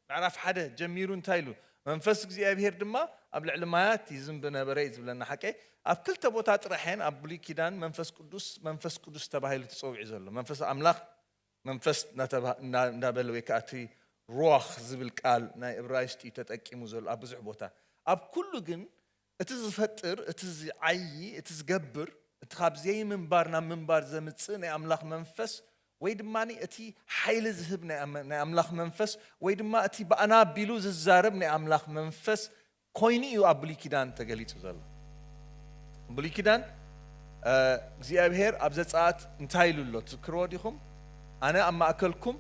ምዕራፍ ሓደ ጀሚሩ እንታይ ኢሉ መንፈስ እግዚኣብሄር ድማ ኣብ ልዕሊ ማያት ይዝንቢ ነበረ እዩ ዝብለና ሓቀ ኣብ ክልተ ቦታ ጥራሕ እየን ኣብ ብሉይ ኪዳን መንፈስ ቅዱስ መንፈስ ቅዱስ ተባሂሉ ተፀዊዑ ዘሎ መንፈስ ኣምላኽ መንፈስ እንዳበለ ወይ ከዓ እቲ ሩዋኽ ዝብል ቃል ናይ እብራይስጢ እዩ ተጠቂሙ ዘሎ ኣብ ብዙሕ ቦታ ኣብ ኩሉ ግን እቲ ዝፈጥር፣ እቲ ዚዓዪ፣ እቲ ዚገብር፣ እቲ ኻብ ዘይምንባር ናብ ምንባር ዘምጽእ ናይ ኣምላኽ መንፈስ፣ ወይ ድማ እቲ ሓይሊ ዚህብ ናይ ኣምላኽ መንፈስ፣ ወይ ድማ እቲ ብኣና ኣቢሉ ዚዛረብ ናይ ኣምላኽ መንፈስ ኮይኑ እዩ ኣብ ብሉይ ኪዳን ተገሊጹ ዘሎ። ብሉይ ኪዳን እግዚኣብሄር ኣብ ዘጸኣት እንታይ ኢሉ ኣሎ ትዝክርዎ ዲኹም? ኣነ ኣብ ማእከልኩም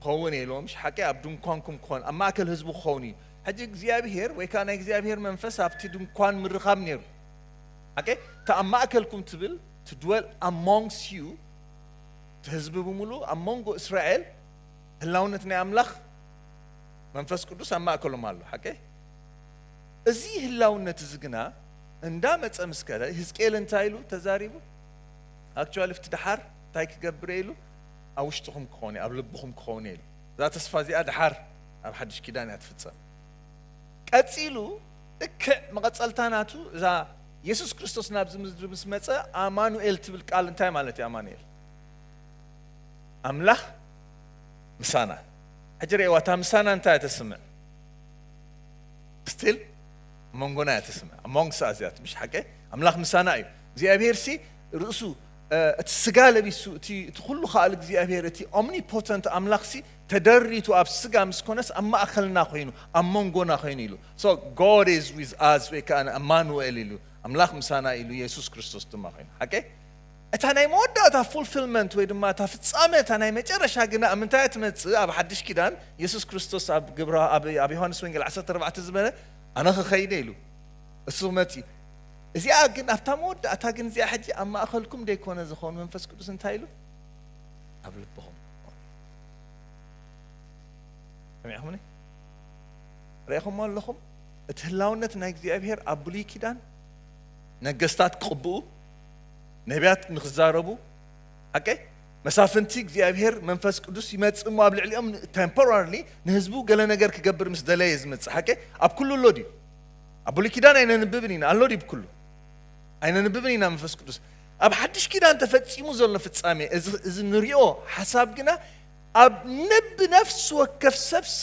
ክኸውን እየ ኢልዎም። እሺ ሓቂ ኣብ ድንኳንኩም ክኾን ኣብ ማእከል ህዝቡ ክኸውን እዩ። ሕጂ እግዚኣብሄር ወይ ከኣ ናይ እግዚኣብሄር መንፈስ ኣብቲ ድንኳን ምርኻብ ነይሩ። ኣከ እታ ኣብ ማእከልኩም ትብል to dwell amongst you እቲ ህዝቢ ብምሉኡ ኣብ መንጎ እስራኤል ህላውነት ናይ ኣምላኽ መንፈስ ቅዱስ ኣብ ማእከሎም ኣሎ። ሓቀይ እዚ ህላውነት እዚ ግና እንዳ መጸ ምስ ከደ ህዝቅኤል እንታይ ኢሉ ተዛሪቡ ኣክቹዋሊ ፍቲ ደሓር እንታይ ክገብር ኢሉ ኣብ ውሽጥኹም ክኾነ ኣብ ልብኹም ክኾነ ኢሉ እዛ ተስፋ እዚኣ ደሓር ኣብ ሓድሽ ኪዳን እያ ትፍጸም። ቀጺሉ ልክዕ መቐጸልታ ናቱ እዛ የሱስ ክርስቶስ ናብዚ ምድሪ ምስ መጸ ኣማኑኤል ትብል ቃል እንታይ ማለት እዩ ኣማኑኤል? ኣምላኽ ምሳና። ሕጂ ርእይዋ እታ ምሳና እንታይ እያ ተስምዕ? ስቲል መንጎና እያ ተስምዕ ኣሞንግስ ኣስ እያ ትምሽ ሓቂ ኣምላኽ ምሳና እዩ። እግዚኣብሄርሲ ርእሱ እቲ ስጋ ለቢሱ እቲ እቲ ኩሉ ከኣል እግዚኣብሄር እቲ ኦምኒፖተንት ኣምላኽሲ ተደሪቱ ኣብ ስጋ ምስ ኮነስ ኣብ ማእከልና ኮይኑ ኣብ መንጎና ኮይኑ ኢሉ so God is with us ወይ ከኣ ኣማኑኤል ኢሉ ኣምላኽ ምሳና ኢሉ የሱስ ክርስቶስ ድማ ኮይኑ ሓቂ እታ ናይ መወዳእታ ፉልፊልመንት ወይ ድማ እታ ፍጻመ እታ ናይ መጨረሻ ግና ኣብ ምንታይ ትመጽእ ኣብ ሓድሽ ኪዳን የሱስ ክርስቶስ ኣብ ግብራ ኣብ ዮሃንስ ወንጌል 14 ዝበለ ኣነ ክኸይደ ኢሉ እሱ ክመጽእ እዩ እዚኣ ግን ኣብታ መወዳእታ ግን እዚኣ ሕጂ ኣብ ማእኸልኩም ደይኮነ ዝኾኑ መንፈስ ቅዱስ እንታይ ኢሉ ኣብ ልብኹም ሰሚዕኹምኒ ርኢኹሞ ኣለኹም እቲ ህላውነት ናይ እግዚኣብሄር ኣብ ብሉይ ኪዳን ነገስታት ክቕብኡ ነቢያት ንክዛረቡ ሓቀ መሳፍንቲ እግዚኣብሄር መንፈስ ቅዱስ ይመፅእ እሞ ኣብ ልዕሊኦም ቴምፖራሪ ንህዝቡ ገለ ነገር ክገብር ምስ ደለየ ዝመፅእ ሓቀ ኣብ ኩሉ ኣሎ ድዩ ኣብ ብሉይ ኪዳን ኣይነንብብን ኢና ኣሎ ድዩ ብኩሉ ኣይነንብብን ኢና መንፈስ ቅዱስ ኣብ ሓድሽ ኪዳን ተፈጺሙ ዘሎ ፍጻሜ እዚ እዚ ንሪኦ ሓሳብ ግና ኣብ ነብ ነፍሲ ወከፍ ሰብሲ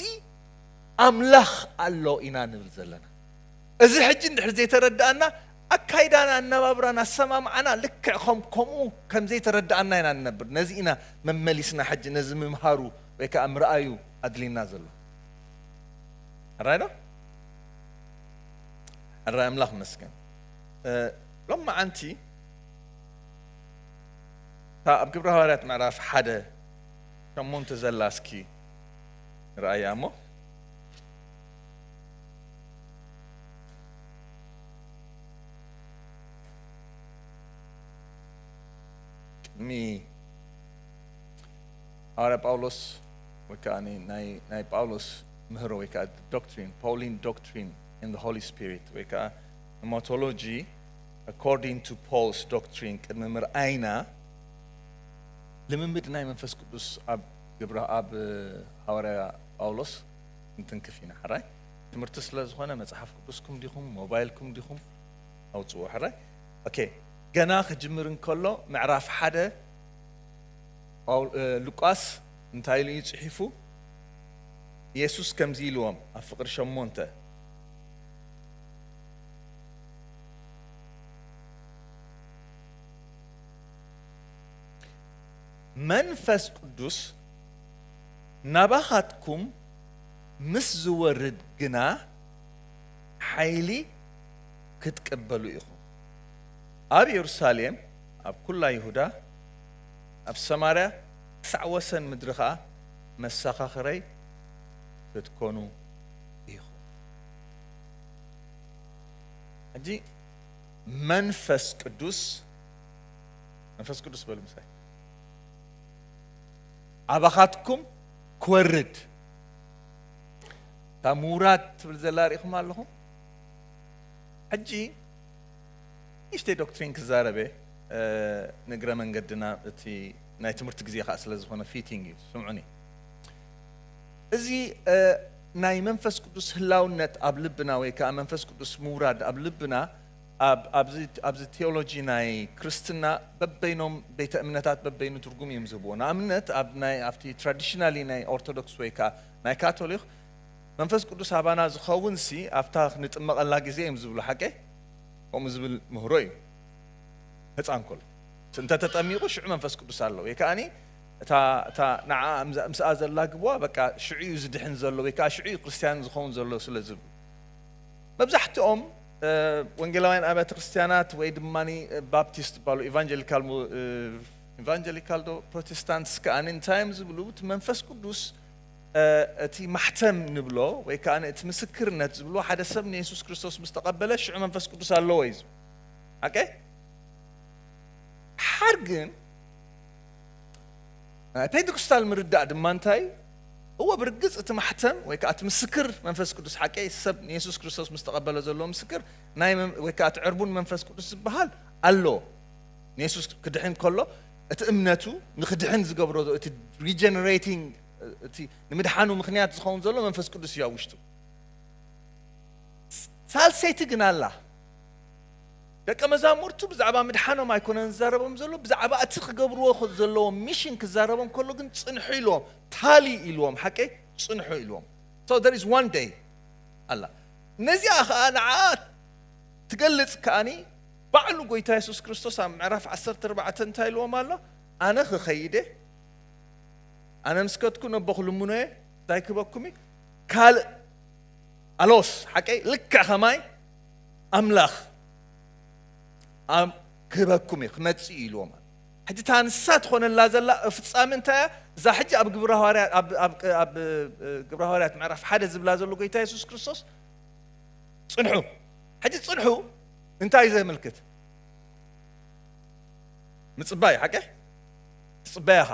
ኣምላኽ ኣሎ ኢና ንብል ዘለና። እዚ ሕጂ እንድሕር ዘይተረዳኣና ኣካይዳና ኣነባብራና ኣሰማምዓና ልክዕ ከም ከምኡ ከም ዘይተረዳኣና ኢና ንነብር። ነዚ ኢና መመሊስና ሕጂ ነዚ ምምሃሩ ወይ ከኣ ምርኣዩ ኣድሊና ዘሎ። ሕራይ ዶ? ሕራይ ኣምላኽ መስገን። ሎማዓንቲ እታ ኣብ ግብረ ሃዋርያት ምዕራፍ ሓደ ሸሞንተ ዘላ እስኪ ንርኣያ እሞ ቅድሚ ሃዋርያ ጳውሎስ ወይ ከዓ ናይ ጳውሎስ ምህሮ ወይ ከዓ ዶክትሪን ፓውሊን ዶክትሪን ኢን ሆሊ ስፒሪት ወይ ከዓ Hematology According to Paul's Doctrine ቅድሚ ምርኣይና ልምምድ ናይ መንፈስ ቅዱስ ኣብ ግብረ ኣብ ሃዋርያ ጳውሎስ እንትንክፍ ኢና ሕራይ ትምህርቲ ስለ ዝኾነ መጽሓፍ ቅዱስኩም ዲኹም ሞባይልኩም ዲኹም ኣውጽዎ ሕራይ ኦኬ ገና ክጅምር እንከሎ ምዕራፍ ሓደ ሉቃስ እንታይ ኢሉ እዩ ጽሒፉ ኢየሱስ ከምዚ ኢልዎም ኣብ ፍቕሪ ሸሞንተ መንፈስ ቅዱስ ናባኻትኩም ምስ ዝወርድ ግና ሓይሊ ክትቅበሉ ኢኹም። ኣብ የሩሳሌም፣ ኣብ ኩላ ይሁዳ፣ ኣብ ሰማርያ ክሳዕ ወሰን ምድሪ ኸኣ መሰኻኽረይ ክትኮኑ ኢኹም። ሕጂ መንፈስ ቅዱስ መንፈስ ቅዱስ በሉ ምሳይ ኣባኻትኩም ክወርድ እታ ምውራድ ትብል ዘላ ርኢኹም ኣለኹም ሕጂ ንእሽተይ ዶክትሪን ክዛረበ ንእግረ መንገድና እቲ ናይ ትምህርቲ ግዜ ከዓ ስለ ዝኾነ ፊቲንግ እዩ ስምዑኒ እዚ ናይ መንፈስ ቅዱስ ህላውነት ኣብ ልብና ወይ ከኣ መንፈስ ቅዱስ ምውራድ ኣብ ልብና ኣብ ኣብዚ ኣብዚ ቴዎሎጂ ናይ ክርስትና በበይኖም ቤተ እምነታት በበይኑ ትርጉም እዮም ዝህብዎ። ንኣብነት ኣብ ናይ ኣብቲ ትራዲሽናሊ ናይ ኦርቶዶክስ ወይ ከኣ ናይ ካቶሊኽ መንፈስ ቅዱስ ኣባና ዝኸውንሲ ኣብታ ንጥመቐላ ግዜ እዮም ዝብሉ ሓቀይ? ከምኡ ዝብል ምህሮ እዩ ህጻን ከሎ እንተ ተጠሚቑ ሽዑ መንፈስ ቅዱስ ኣሎ ወይ ከኣ እታ እታ ንዓኣ ምስኣ ዘላግብዋ በቃ ሽዑ'ዩ ዝድሕን ዘሎ ወይ ከኣ ሽዑ'ዩ ክርስትያን ዝኸውን ዘሎ ስለ ዝብሉ። መብዛሕትኦም ወንጌላውያን ኣብያተ ክርስትያናት ወይ ድማ ባፕቲስት ይባሉ ኢቫንጀሊካል ኢቫንጀሊካል ዶ ፕሮቴስታንትስ ከኣ እንታይ እዮም ዝብሉ እቲ መንፈስ ቅዱስ እቲ ማሕተም ንብሎ ወይ ከኣ እቲ ምስክርነት ዝብሎ ሓደ ሰብ ንየሱስ ክርስቶስ ምስ ተቐበለ ሽዑ መንፈስ ቅዱስ ኣለዎ እዩ ዝብሉ ሓር ግን ናይ ፔንተኮስታል ምርዳእ ድማ እንታይ እዩ? እወ፣ ብርግጽ እቲ ማሕተም ወይ ከኣ እቲ ምስክር መንፈስ ቅዱስ ሓቂ እዩ። ሰብ ንየሱስ ክርስቶስ ምስ ተቐበለ ዘለዎ ምስክር ናይ ወይ ከኣ እቲ ዕርቡን መንፈስ ቅዱስ ዝበሃል ኣሎ። ንየሱስ ክድሕን ከሎ እቲ እምነቱ ንክድሕን ዝገብሮ እቲ ሪጀነሬቲንግ እቲ ንምድሓኑ ምክንያት ዝኸውን ዘሎ መንፈስ ቅዱስ እዩ ኣብ ውሽጡ። ሳልሰይቲ ግን ኣላ። ደቀ መዛሙርቱ ብዛዕባ ምድሓኖም ኣይኰነን ዝዛረቦም ዘሎ፣ ብዛዕባ እቲ ክገብርዎ ዘለዎም ሚሽን ክዛረቦም ከሎ ግን ጽንሑ ኢልዎም፣ ታሊ ኢልዎም፣ ሓቀይ ጽንሑ ኢልዎም። So there is one day ኣላ። ነዚኣ ከኣ ንዓኣ ትገልጽ ከኣኒ ባዕሉ ጐይታ የሱስ ክርስቶስ ኣብ ምዕራፍ ዓሰርተ ኣርባዕተ እንታይ ኢልዎም ኣሎ? ኣነ ክኸይድ እየ፣ ኣነ ምስ ከድኩ ነቦ ክልምኖ እየ፣ እንታይ ክህበኩም እዩ? ካልእ ኣሎስ፣ ሓቀይ ልክዕ ከማይ፣ ኣምላኽ ክህበኩም እዩ ክመጽእ እዩ ኢልዎም ሕጂ እታ ንሳ ትኾነላ ዘላ ፍጻሚ እንታይ እያ እዛ ሕጂ ኣብ ግብረ ሃዋርያት ኣብ ግብረ ሃዋርያት ምዕራፍ ሓደ ዝብላ ዘሎ ጎይታ የሱስ ክርስቶስ ጽንሑ ሕጂ ጽንሑ እንታይ እዩ ዘመልክት ምጽባይ ሓቂ ትጽበያ ኢኻ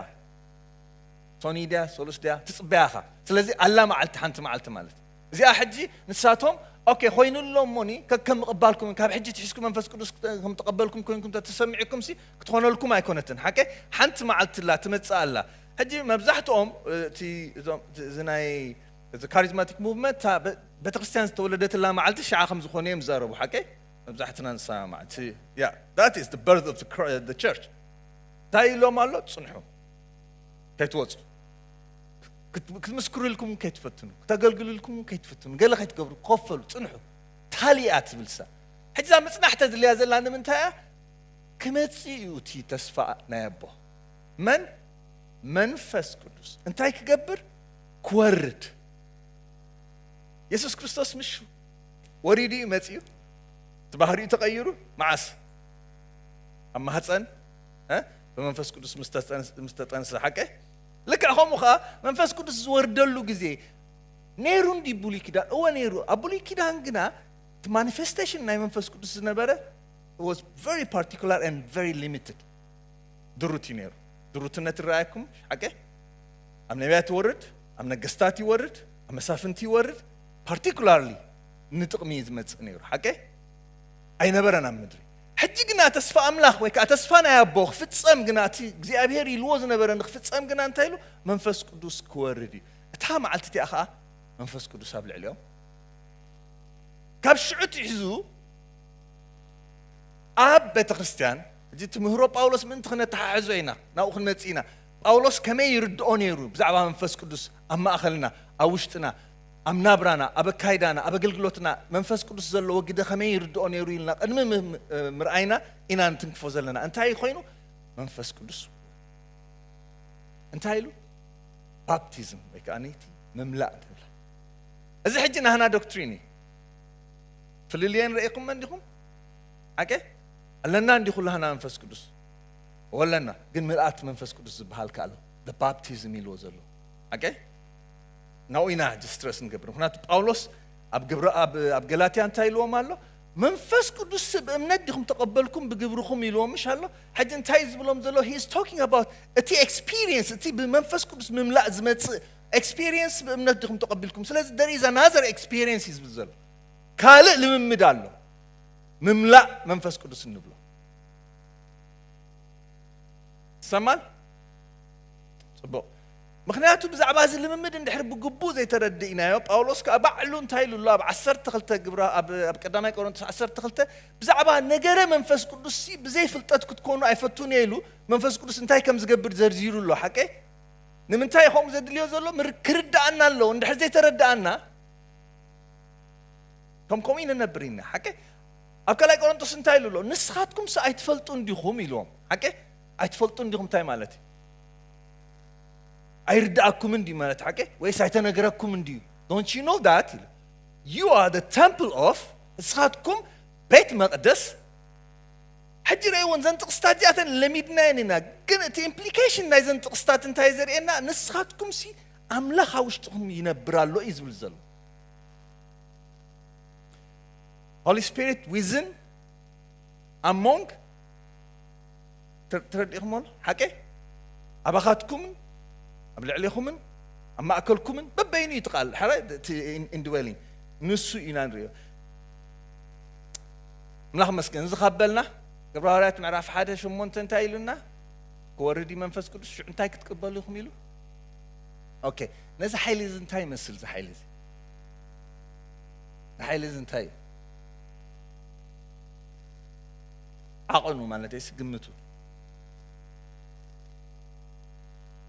ቶኒ ድያ ሶሉስ ድያ ትጽበያ ኢኻ ስለዚ ኣላ መዓልቲ ሓንቲ መዓልቲ ማለት እዚኣ ሕጂ ንሳቶም ኦኬ ኮይኑ ኣሎ እሞኒ ከከም ምቕባልኩም ካብ ሕጂ ትሒዝኩም መንፈስ ቅዱስ ከም ተቐበልኩም ኮይንኩም ተተሰሚዕኩም ሲ ክትኾነልኩም ኣይኮነትን ሓቀ ሓንቲ መዓልቲ ላ ትመጽእ ኣላ ሕጂ መብዛሕትኦም እቲ እዚ ናይ እዚ ካሪዝማቲክ ሙቭመንት ቤተክርስትያን ዝተወለደትላ መዓልቲ ሽዓ ከም ዝኾነ እዮም ዝዛረቡ ሓቀ መብዛሕትና ንሰማማዕ እቲ ያ that is the birth of the church እንታይ ኢሎም ኣሎ ጽንሑ ከይትወጹ ክትምስክርልኩም እውን ከይትፈትኑ ክተገልግልልኩም እውን ከይትፍትኑ ገለ ከይትገብሩ ኮፈሉ ፅንሑ ታሊያ ትብል ሳ ሕጂ እዛ ምፅናሕ ተድልያ ዘላ ንምንታይ እያ ክመፅእ እዩ እቲ ተስፋ ናይ ኣቦ መን መንፈስ ቅዱስ እንታይ ክገብር ክወርድ የሱስ ክርስቶስ ምሹ ወሪዱ እዩ መፅኡ እቲ ባህሪኡ ተቐይሩ መዓስ ኣብ ማህፀን ብመንፈስ ቅዱስ ምስ ተጠንሰ ሓቀ ልክዕ ከምኡ ከኣ መንፈስ ቅዱስ ዝወርደሉ ግዜ ነይሩ እንዲ ብሉይ ኪዳን እወ ነይሩ ኣብ ብሉይ ኪዳን ግና እቲ ማኒፌስቴሽን ናይ መንፈስ ቅዱስ ዝነበረ ዋስ ቨሪ ፓርቲኩላር ን ቨሪ ሊሚትድ ድሩት እዩ ነይሩ ድሩትነት ይረኣየኩም ሓቂ ኣብ ነቢያት ይወርድ ኣብ ነገስታት ይወርድ ኣብ መሳፍንቲ ይወርድ ፓርቲኩላርሊ ንጥቕሚ እዩ ዝመፅእ ነይሩ ሓቂ ኣይነበረን ኣብ ምድሪ ሕጂ ግና ተስፋ ኣምላኽ ወይ ከዓ ተስፋ ናይ ኣቦ ክፍጸም ግና እቲ እግዚኣብሄር ኢልዎ ዝነበረ ንክፍጸም ግና እንታይ ኢሉ መንፈስ ቅዱስ ክወርድ እዩ እታ መዓልቲ እቲኣ ከዓ መንፈስ ቅዱስ ኣብ ልዕሊኦም ካብ ሽዑ ትሒዙ ኣብ ቤተ ክርስቲያን እዚ ትምህሮ ጳውሎስ ምእንቲ ክነተሓሕዞ ኢና ናብኡ ክንመፅእ ኢና ጳውሎስ ከመይ ይርድኦ ነይሩ ብዛዕባ መንፈስ ቅዱስ ኣብ ማእኸልና ኣብ ውሽጥና ኣብ ናብራና፣ ኣብ ኣካይዳና፣ ኣብ ኣገልግሎትና መንፈስ ቅዱስ ዘለዎ ግደ ከመይ ይርድኦ ነይሩ ኢልና ቅድሚ ምርኣይና ኢና እንትንክፎ ዘለና። እንታይ እዩ ኮይኑ? መንፈስ ቅዱስ እንታይ ኢሉ? ባፕቲዝም ወይ ከዓ ነይቲ ምምላእ ምምላእ እዚ ሕጂ ናህና ዶክትሪን እዩ። ፍልልየን ረኢኹም እንዲኹም ሓቀ ኣለና እንዲ ኩላህና መንፈስ ቅዱስ ወለና ግን ምልኣት መንፈስ ቅዱስ ዝበሃል ከ ኣሎ ባፕቲዝም ኢልዎ ዘሎ ሓቀ ናብኡ ኢና ሕጂ ስትረስ ንገብር ምክንያቱ ጳውሎስ ኣብ ግብረ ኣብ ኣብ ገላትያ እንታይ ኢልዎም ኣሎ መንፈስ ቅዱስ ብእምነት ዲኹም ተቐበልኩም ብግብርኹም ኢልዎም ምሽ ኣሎ ሕጂ እንታይ ዝብሎም ዘሎ ሂ ቶኪንግ ኣባውት እቲ ኤክስፒሪየንስ እቲ ብመንፈስ ቅዱስ ምምላእ ዝመፅእ ኤክስፒሪየንስ ብእምነት ዲኹም ተቐቢልኩም ስለዚ ደር ኢዝ ኣናዘር ኤክስፒሪየንስ እዩ ዝብል ዘሎ ካልእ ልምምድ ኣሎ ምምላእ መንፈስ ቅዱስ እንብሎ ይሰማል ፅቡቅ ምኽንያቱ ብዛዕባ እዚ ልምምድ እንድሕር ብግቡእ ዘይተረዲእናዮ፣ ጳውሎስ ከኣ ባዕሉ እንታይ ኢሉ ኣሎ ኣብ ዓሰርተ ክልተ ግብረ ኣብ ኣብ ቀዳማይ ቆሮንቶስ ዓሰርተ ክልተ ብዛዕባ ነገረ መንፈስ ቅዱስሲ ብዘይ ፍልጠት ክትኮኑ ኣይፈቱን እየ ኢሉ መንፈስ ቅዱስ እንታይ ከም ዝገብር ዘርዚሩ ኣሎ ሓቀይ ንምንታይ ከምኡ ዘድልዮ ዘሎ ምር ክርዳኣና ኣለዎ እንድሕር ዘይተረዳኣና ከም ከምኡ ይንነብር ኢና ሓቀይ ኣብ ካልኣይ ቆሮንቶስ እንታይ ኢሉ ኣሎ ንስኻትኩምስ ኣይትፈልጡን ዲኹም ኢልዎም ሓቀይ ኣይትፈልጡን ዲኹም እንታይ ማለት እዩ ኣይርድኣኩምን ድዩ ማለት ሓቂ ወይስ ኣይተነገረኩምን ድዩ ዶንት ዩ ኖ ዳት ኢሉ ዩ ኣር ደ ተምፕል ኦፍ ንስኻትኩም ቤት መቕደስ ሕጂ ረእይዎን ዘን ጥቕስታት እዚኣተን ለሚድናየን ኢና ግን እቲ ኢምፕሊኬሽን ናይዘን ጥቕስታት እንታይ ዘርእየና ንስኻትኩም ሲ ኣምላኽ ኣብ ውሽጥኹም ይነብር ኣሎ እዩ ዝብል ዘሎ ሆሊ ስፒሪት ዊዝን ኣሞንግ ተረዲእኹሞዶ ሓቀይ? ኣባኻትኩምን ኣብ ልዕሌኹምን ኣብ ማእከልኩምን በበይኑ እዩ እቲ ቃል ድሓረ እቲ ኢንድዌሊንግ ንሱ ኢና ንሪኦ ኣምላኽ መስገን እዚ ካብ በልና ግብረ ሃዋርያት ምዕራፍ ሓደ ሸሞንተ እንታይ ኢሉና ክወርድ እዩ መንፈስ ቅዱስ ሽዑ እንታይ ክትቅበሉ ኢኹም ኢሉ ኦኬ ነዚ ሓይሊ እዚ እንታይ ይመስል እዚ ሓይሊ እዚ ንሓይሊ እዚ እንታይ እዩ ዓቐኑ ማለተይስ ግምቱ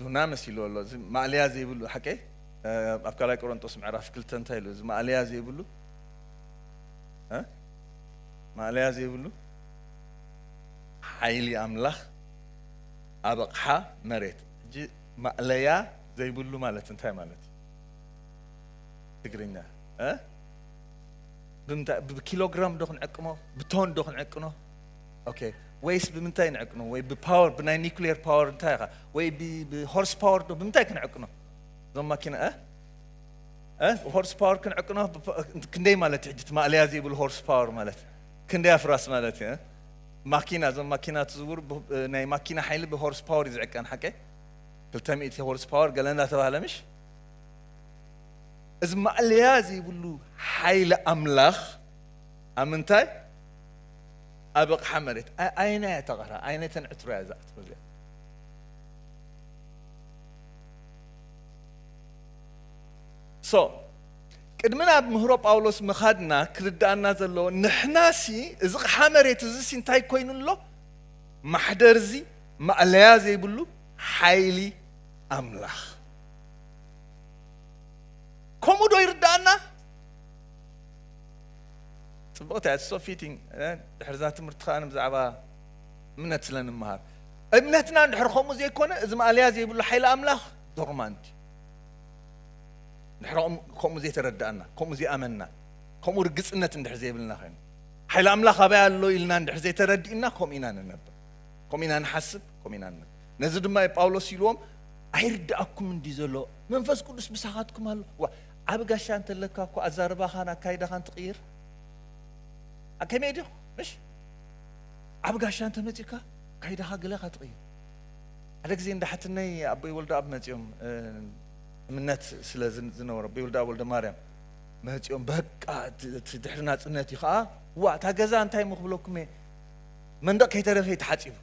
ዱና መሲልዎ ኣሎ እዚ ማእለያ ዘይብሉ ሓቀይ ኣብ ካልኣይ ቆሮንጦስ ምዕራፍ ክልተ እንታይ ኢሉ እዚ ማእለያ ዘይብሉ ማእለያ ዘይብሉ ሓይሊ ኣምላኽ ኣብ ኣቕሓ መሬት ሕጂ ማእለያ ዘይብሉ ማለት እንታይ ማለት እዩ ትግርኛ ብምንታይ ብኪሎግራም ዶ ክንዕቅኖ ብቶን ዶ ክንዕቅኖ ኦኬ ወይስ ብምንታይ ንዕቅኖ ወይ ብፓወር ብናይ ኒክሌር ፓወር እንታይ ኢኻ ወይ ብሆርስ ፓወር ዶ ብምንታይ ክንዕቅኖ እዞም ማኪና እ ሆርስ ፓወር ክንዕቅኖ ክንደይ ማለት እዩ ሕጂ ማእለያ ዘይብሉ ሆርስ ፓወር ማለት ክንደይ ኣፍራስ ማለት እዩ ማኪና እዞም ማኪና ትዝውሩ ናይ ማኪና ሓይሊ ብሆርስ ፓወር እዩ ዝዕቀን ሓቀ 200 ሆርስ ፓወር ገለ እንዳተባህለ ምሽ እዚ ማእለያ ዘይብሉ ሓይሊ ኣምላኽ ኣብ ምንታይ? ኣብ ኣቕሓ መሬት። ኣየናይ እያ እታ ቐርሃ? ኣየናይ እተን ዕትሮ እያ እዛ ዕትሮ እዚኣ? ሶ ቅድሚ ናብ ምህሮ ጳውሎስ ምኻድና ክርድኣና ዘለዎ ንሕናሲ እዚ ቕሓ መሬት እዚሲ እንታይ ኮይኑ ኣሎ? ማሕደር እዚ ማእለያ ዘይብሉ ሓይሊ ኣምላኽ ከምኡ ዶ ይርዳኣና ፅብቕቲ እያ ሶ ፊቲንግ ድሕርዛ ትምህርቲ ከዓ ብዛዕባ እምነት ስለ ንመሃር እምነትና እንድሕር ከምኡ ዘይኮነ እዚ ማእለያ ዘይብሉ ሓይሊ ኣምላኽ ዶርማንት ድሕር ከምኡ ዘይተረዳእና ከምኡ ዘይኣመንና ከምኡ ርግፅነት እንድሕር ዘይብልና ኮይኑ ሓይሊ ኣምላኽ ኣበይ ኣሎ ኢልና እንድሕር ዘይተረዲእና ከምኡ ኢና ንነብር ከምኡ ኢና ንሓስብ ከምኡ ኢና ንነብር ነዚ ድማ እዩ ጳውሎስ ኢልዎም ኣይርድኣኩምን ድዩ ዘሎ መንፈስ ቅዱስ ምሳኻትኩም ኣሎ ዋ ዓቢ ጋሻ እንተለካ እኮ ኣዛርባኻን ኣካይዳኻን ትቕይር ከመይ ድዩ ምሽ ዓቢ ጋሻ እንተመጺካ ካይዳኻ ገለኻ ትቕይር ሓደ ግዜ እንዳ ሓትነይ ኣቦይ ወልደኣብ መጺኦም እምነት ስለ ዝነበሮ ኣቦይ ወልደኣብ ወልደ ማርያም መጺኦም በቃ እቲ ድሕሪ ናጽነት እዩ ከዓ ዋ እታ ገዛ እንታይ ምክብለኩም እየ መንደቕ ከይተረፈ ተሓፂቡ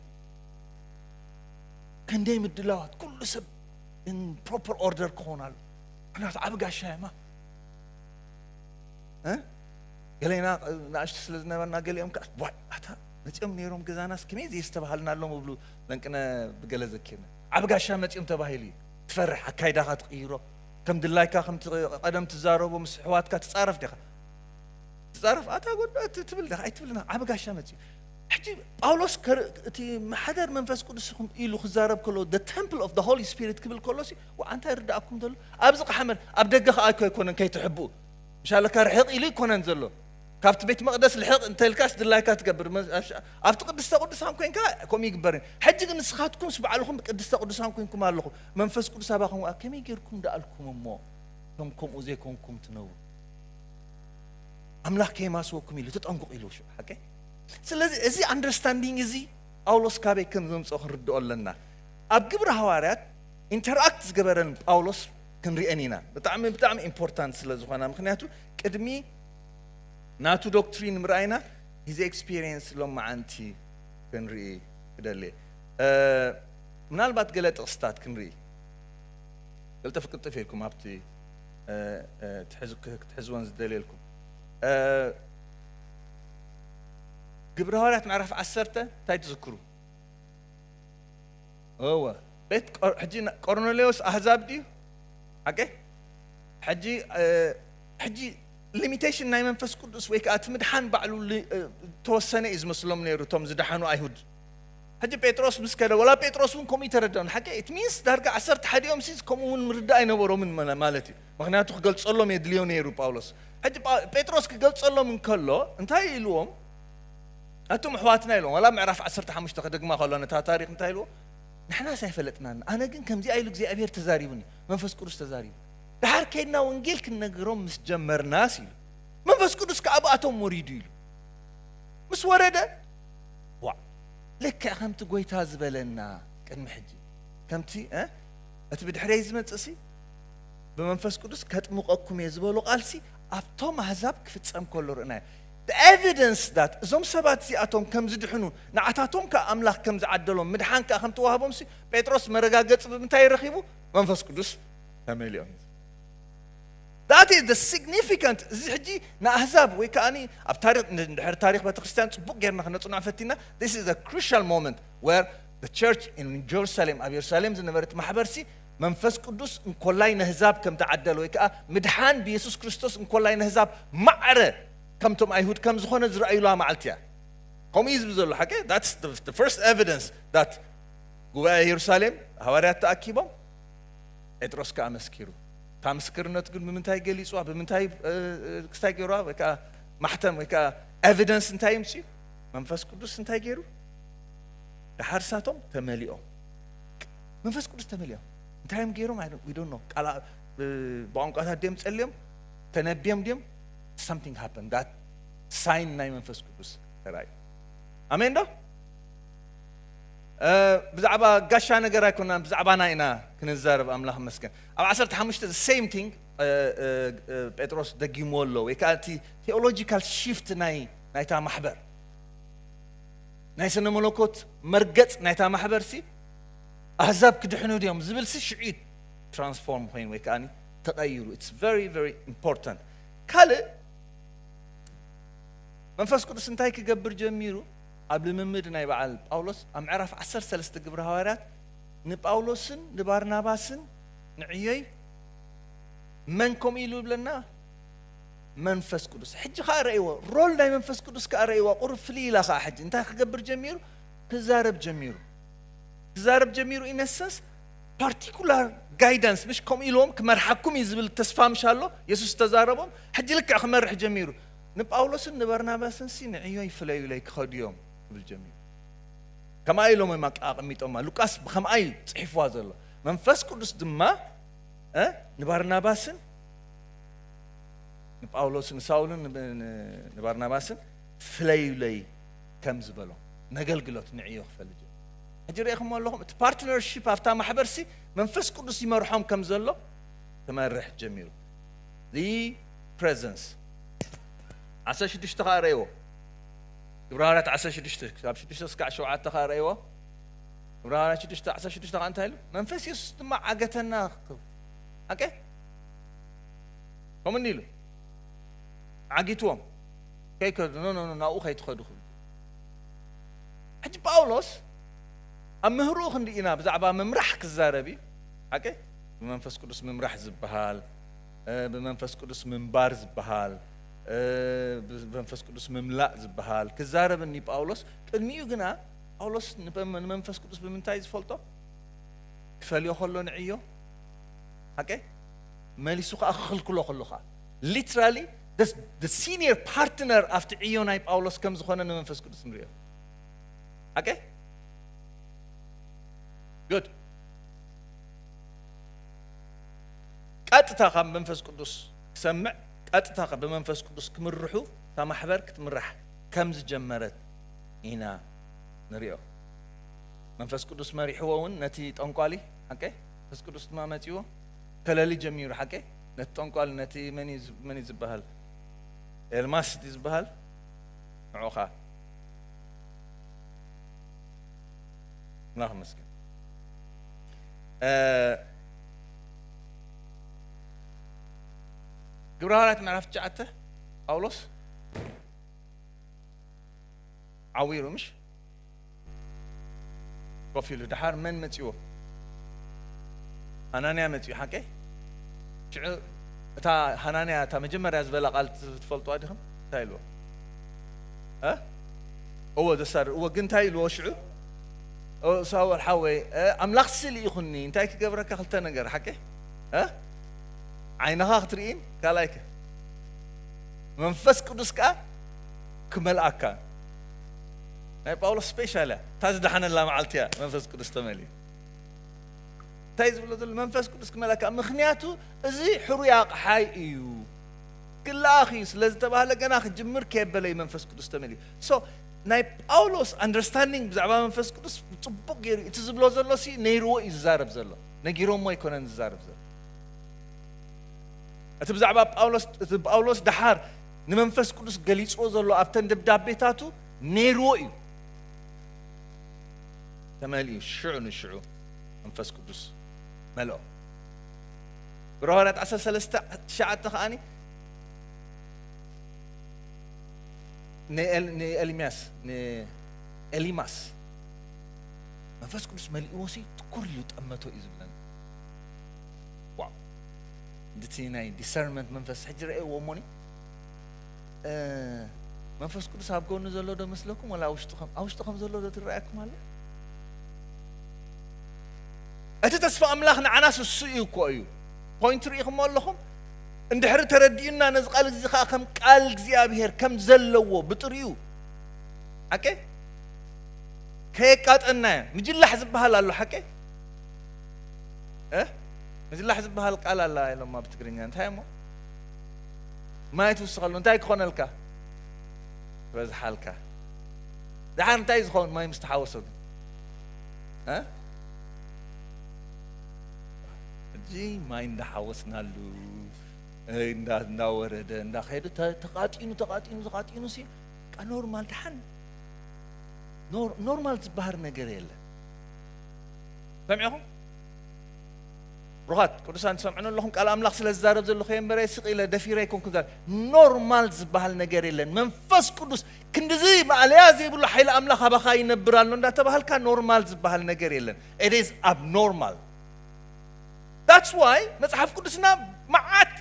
ክንደይ ምድላዋት ኩሉ ሰብ ን ፕሮፐር ኦርደር ክኾን ኣሎ ምክንያቱ ዓብ ጋሻ የማ ገሌና ንኣሽቱ ስለ ዝነበርና ገሊኦም ከዓ ዋይ ኣታ መፂኦም ነይሮም ገዛናስ ከመይ ዘየስተባሃልና ኣሎም እብሉ ለንቅነ ብገለ ዘኪርኒ ዓብ ጋሻ መፂኦም ተባሂሉ እዩ ትፈርሕ ኣካይዳኻ ትቕይሮ ከም ድላይካ ከም ቀደም ትዛረቦ ምስ ሕዋትካ ትፃረፍ ዲኻ ትፃረፍ ኣታ ጎዶ ትብል ዲኻ ኣይትብልና ዓብ ጋሻ መፂኡ ሕጂ ጳውሎስ ከር እቲ ማሕደር መንፈስ ቅዱስ ኢኹም ኢሉ ክዛረብ ከሎ the temple of the holy spirit ክብል ከሎ ሲ ወዓ እንታይ ይርዳእኩም ዘሎ ኣብዚ ቃሓመን ኣብ ደገ ከኣ እኮ ኣይኮነን ከይትሕብኡ ምሻለካ ርሕቕ ኢሉ ኣይኮነን ዘሎ ካብቲ ቤት መቕደስ ልሕቕ እንተልካስ ድላይካ ትገብር ኣብቲ ቅድስተ ቅዱሳን ኮንካ ከምኡ ይግበር ሕጂ ግን ንስኻትኩምስ ባዕልኹም ቅድስተ ቅዱሳን ኮንኩም ኣለኹም መንፈስ ቅዱስ ኣባኹም ከመይ ጌርኩም ደኣልኩም እሞ ከም ከምኡ ዘይኮንኩም ትነብሩ ኣምላኽ ከየማስወኩም ኢሉ ተጠንቁቕ ኢሉ ሓቀይ ስለዚ እዚ ኣንደርስታንዲንግ እዚ ጳውሎስ ካበይ ከም ዘምጽኦ ክንርድኦ ኣለና። ኣብ ግብሪ ሃዋርያት ኢንተርኣክት ዝገበረን ጳውሎስ ክንርኤን ኢና። ብጣዕሚ ብጣዕሚ ኢምፖርታንት ስለ ዝኾና ምክንያቱ ቅድሚ ናቱ ዶክትሪን ምርኣይና ሂዝ ኤክስፒሪየንስ ሎማዓንቲ ክንርኢ እደሊ። ምናልባት ገለ ጥቕስታት ክንርኢ ቅልጥፍ ቅልጥፍ ኢልኩም ኣብቲ ክትሕዝወን ዝደልየልኩም ግብረ ሃዋርያት ምዕራፍ ዓሰርተ እንታይ ትዝክሩ? እወ ቤት ሕጂ ቆርኔሌዎስ ኣህዛብ ድዩ? ሓቂ ሕጂ ሕጂ ሊሚቴሽን ናይ መንፈስ ቅዱስ ወይ ከዓ እቲ ምድሓን ባዕሉ ተወሰነ እዩ ዝመስሎም ነይሩ እቶም ዝደሓኑ ኣይሁድ ሕጂ ጴጥሮስ ምስ ከደ ወላ ጴጥሮስ እውን ከምኡ ይተረድኦም ሓቂ ኢት ሚንስ ዳርጋ ዓሰርተ ሓዲኦም ሲ ከምኡ እውን ምርዳእ ኣይነበሮምን ማለት እዩ ምክንያቱ ክገልጸሎም የድልዮ ነይሩ ጳውሎስ ሕጂ ጴጥሮስ ክገልጸሎም እንከሎ እንታይ ኢልዎም ኣቶም ኣሕዋትና ኢልዎም ወላ ምዕራፍ ዓሰርተ ሓሙሽተ ከደግማ ከሎ ነታ ታሪክ እንታይ ኢልዎ ንሕናስ ኣይፈለጥናን ኣነ ግን ከምዚኣ ኢሉ እግዚኣብሄር ተዛሪቡኒ መንፈስ ቅዱስ ተዛሪቡ ድሓር ከይድና ወንጌል ክንነግሮም ምስ ጀመርናስ ኢሉ መንፈስ ቅዱስ ከዓ ብኣቶም ወሪዱ ኢሉ ምስ ወረደ ዋእ ልክዕ ከምቲ ጎይታ ዝበለና ቅድሚ ሕጂ ከምቲ እቲ ብድሕረይ ዝመጽእሲ ብመንፈስ ቅዱስ ከጥምቀኩም እየ ዝበሎ ቃልሲ ኣብቶም ኣህዛብ ክፍጸም ከሎ ርእናዮ ኤቪደንስ ዳት እዞም ሰባት እዚኣቶም ከም ዝድሕኑ ንዓታቶም ከዓ ኣምላኽ ከም ዝዓደሎም ምድሓን ከዓ ከም ተዋህቦምሲ ጴጥሮስ መረጋገፂ ብምንታይ ረኺቡ መንፈስ ቅዱስ ተመሊኦም That is the significant እዚ ሕጂ ንኣህዛብ ወይ ከኣ ኣብ ታሪኽ ንድሕሪ ታሪኽ ቤተክርስትያን ጽቡቕ ጌርና ክነጽንዖ ፈቲና this is a crucial moment where the church in Jerusalem ኣብ የሩሳሌም ዝነበረት ማሕበርሲ መንፈስ ቅዱስ እንኮላይ ነህዛብ ከም ተዓደለ ወይ ከኣ ምድሓን ብየሱስ ክርስቶስ እንኮላይ ነህዛብ ማዕረ ከምቶም ኣይሁድ ከም ዝኾነ ዝረኣዩላ መዓልቲ እያ ከምኡ እዩ ዝብል ዘሎ ሓቂ that's the, the first evidence that ጉባኤ የሩሳሌም ሃዋርያት ተኣኪቦም ጴጥሮስ ከኣ መስኪሩ እታ ምስክርነቱ ግን ብምንታይ ገሊጽዋ ብምንታይ ክስታይ ገይርዋ ወይ ከኣ ማሕተም ወይ ከኣ ኤቪደንስ እንታይ ይምጽኡ መንፈስ ቅዱስ እንታይ ገይሩ ደሓር ሳቶም ተመሊኦም መንፈስ ቅዱስ ተመሊኦም እንታይ እዮም ገይሮም ይዶኖ ቃል ብቋንቋታት ድም ጸልዮም ተነብዮም ድም ሳምቲንግ ሃፐን ዳት ሳይን ናይ መንፈስ ቅዱስ ተራእዩ ኣሜን ዶ ብዛዕባ ጋሻ ነገር ኣይኮናን ብዛዕባና ኢና ክንዛረብ ኣምላኽ መስገን ኣብ ዓሰርተ ሓሙሽተ the same thing ጴጥሮስ ደጊምዎ ኣሎ ወይ ከኣ እቲ theological shift ናይ ናይታ ማሕበር ናይ ስነ መለኮት መርገጽ ናይታ ማሕበር ሲ ኣህዛብ ክድሕኑ ድዮም ዝብል ሲ ሽዑ ትራንስፎርም ኮይኑ ወይ ከኣ ተቐይሩ it's very very important ካልእ መንፈስ ቅዱስ እንታይ ክገብር ጀሚሩ ኣብ ልምምድ ናይ በዓል ጳውሎስ ኣብ ምዕራፍ 13 ግብረ ሃዋርያት ንጳውሎስን ንባርናባስን ንዕዮይ መን ከምኡ ኢሉ ይብለና? መንፈስ ቅዱስ። ሕጂ ከኣ ረእይዎ፣ ሮል ናይ መንፈስ ቅዱስ ከኣ ረእይዋ፣ ቁሩብ ፍልይ ኢላ ከኣ ሕጂ እንታይ ክገብር ጀሚሩ? ክዛረብ ጀሚሩ። ክዛረብ ጀሚሩ ኢነሰንስ ፓርቲኩላር ጋይዳንስ ምሽ ከምኡ ኢልዎም ክመርሓኩም እዩ ዝብል ተስፋ ምሽ ኣሎ የሱስ ተዛረቦም ሕጂ ልክዕ ክመርሕ ጀሚሩ ንጳውሎስን ንበርናባስን ሲ ንዕዮ ይፍለዩለይ ክኸዱ እዮም ክብል ጀሚሩ ከምኣ ኢሎም እዮም ኣቀሚጦማ። ሉቃስ ብከምኣ እዩ ጽሒፍዋ ዘሎ። መንፈስ ቅዱስ ድማ ንባርናባስን ንጳውሎስ ንሳውልን ንባርናባስን ፍለዩለይ ከም ዝበሎም ነገልግሎት ንዕዮ ክፈልጥ እዩ። ሕጂ ርኢኹም ኣለኹም እቲ ፓርትነርሺፕ ኣብታ ማሕበርሲ መንፈስ ቅዱስ ይመርሖም ከም ዘሎ ክመርሕ ጀሚሩ። the presence 16 ከዓ ረእዎ ዕብራውያት ዓሰርተ ሽዱሽተ ክሳብ ሽዱሽተ እስካዕ ሸውዓተ ከኣ ረኣይዎ ዕብራውያት ሽዱሽተ ዓሰርተ ሽዱሽተ ከኣ እንታይ ኢሉ መንፈስ የሱስ ድማ ዓገተና ኣቀ ከምኡ ኢሉ ዓጊትዎም ከይከዱ ኖ ኖ ናብኡ ከይትኸዱ ክብል ሕጂ ጳውሎስ ኣብ ምህርኡ ክንዲ ኢና ብዛዕባ ምምራሕ ክዛረብ እዩ ሓቂ ብመንፈስ ቅዱስ ምምራሕ ዝበሃል ብመንፈስ ቅዱስ ምንባር ዝበሃል፣ ብመንፈስ ቅዱስ ምምላእ ዝበሃል ክዛረብ እኒ ጳውሎስ፣ ቅድሚኡ ግና ጳውሎስ ንመንፈስ ቅዱስ ብምንታይ ዝፈልጦ? ክፈልዮ ከሎ ንዕዮ ሓቀ መሊሱ ከዓ ክኽልክሎ ከሎ ከዓ ሊትራሊ ሲኒየር ፓርትነር ኣብቲ ዕዮ ናይ ጳውሎስ ከም ዝኾነ ንመንፈስ ቅዱስ ንሪኦ ሓቀ good ቀጥታ ካብ መንፈስ ቅዱስ ክሰምዕ ቀጥታ ብመንፈስ ቅዱስ ክምርሑ እታ ማሕበር ክትምራሕ ከም ዝጀመረት ኢና ንሪኦ መንፈስ ቅዱስ መሪሕዎ እውን ነቲ ጠንቋሊ ሓቀ መንፈስ ቅዱስ ድማ መጺዎ ከለሊ ጀሚሩ ሓቀ ነቲ ጠንቋሊ ነቲ መን እዩ ዝበሃል ኤልማስ እቲ ዝበሃል ንዑ ከዓ ኣምላኽ መስገን ግብረ ሃዋርያት ምዕራፍ ትሽዓተ ጳውሎስ ዓዊሩ ምሽ ኮፍ ኢሉ ድሓር መን መፅዎ ሃናንያ መፅኡ ሓቂ ሽዑ እታ ሃናንያ እታ መጀመርያ ዝበላ ቃል ትፈልጥዋ ዲኹም እንታይ ኢልዎ እወ ዘሳር እወ ግን እንታይ ኢልዎ ሽዑ ኦ ሳወል ሓወይ ኣምላኽ ሲ ልኢኹኒ እንታይ ክገብረካ ክልተ ነገር ሓቂ እ ዓይንኻ ክትርኢን ካልኣይ ከ መንፈስ ቅዱስ ከኣ ክመልኣካ ናይ ጳውሎስ ስፔሻል እያ እታ ዝደሓነላ መዓልቲ እያ መንፈስ ቅዱስ ተመልዩ እንታይ ዝብሎ ዘሎ መንፈስ ቅዱስ ክመልኣካ ምክንያቱ እዚ ሕሩይ ኣቕሓይ እዩ ክልኣኽ እዩ ስለ ዝተባህለ ገና ክጅምር ከየበለዩ መንፈስ ቅዱስ ተመልዩ ናይ ጳውሎስ ኣንደርስታንዲንግ ብዛዕባ መንፈስ ቅዱስ ብጽቡቕ ገይሩ እቲ ዝብሎ ዘሎ ሲ ነይርዎ እዩ ዝዛረብ ዘሎ ነጊሮሞ ኣይኮነን ዝዛረብ ዘሎ እቲ ብዛዕባ ጳውሎስ እቲ ጳውሎስ ደሓር ንመንፈስ ቅዱስ ገሊጽዎ ዘሎ ኣብተን ደብዳቤታቱ ነይርዎ እዩ ተመልዩ ሽዑ ንሽዑ መንፈስ ቅዱስ መልኦ ብረሃዋርያት 13 ትሽዓተ ከዓኒ ንኤልሚያስ ንኤሊማስ መንፈስ ቅዱስ መሊእዎ ሲ ትኩር ኢሉ ጠመቶ እዩ ዝብለና ዋው እንድቲ ናይ ዲሰርንመንት መንፈስ ሕጂ ረእየዎ እሞኒ መንፈስ ቅዱስ ኣብ ጎኑ ዘሎ ዶ መስለኩም ወላ ውሽጡ ከም ኣብ ውሽጡ ከም ዘሎ ዶ ትረኣየኩም ኣሎ እቲ ተስፋ ኣምላኽ ንዓናስ እሱ እዩ እኮ እዩ ፖይንት ርኢኹሞ ኣለኹም እንድሕሪ ተረዲኡና ነዚ ቃል እዚ ከኣ ከም ቃል እግዚኣብሄር ከም ዘለዎ ብጥሪኡ ሓቀ ከየቃጠናዮ ምጅላሕ ዝበሃል ኣሎ ሓቀ ምጅላሕ ዝበሃል ቃል ኣላ ኢሎማ ብትግርኛ እንታይ እሞ ማይ ትውስኸሉ እንታይ ክኾነልካ በዝሓልካ ድሓር እንታይ ዝኸውን ማይ ምስ ተሓወሶ ግን ሕጂ ማይ እንዳሓወስናሉ እንዳወረደ እንዳኸደ ተቓጢኑ ተቓጢኑ ተቓጢኑ ሲ በቃ ኖርማል ድሓን ኖርማል ዝበሃል ነገር የለን ሰሚዕኹም ሩኻት ቅዱሳን ትሰምዑን ኣለኹም ቃል ኣምላኽ ስለ ዝዛረብ ዘለኹ እየ እምበረ ስቕ ኢለ ደፊረ ኣይኮንኩ ዛ ኖርማል ዝበሃል ነገር የለን መንፈስ ቅዱስ ክንዲዚ ማእለያ ዘይብሉ ሓይሊ ኣምላኽ ኣባኻ ይነብር ኣሎ እንዳተባሃልካ ኖርማል ዝበሃል ነገር የለን ኢት ኢዝ ኣብ ኖርማል ዳትስ ዋይ መጽሓፍ ቅዱስና መዓት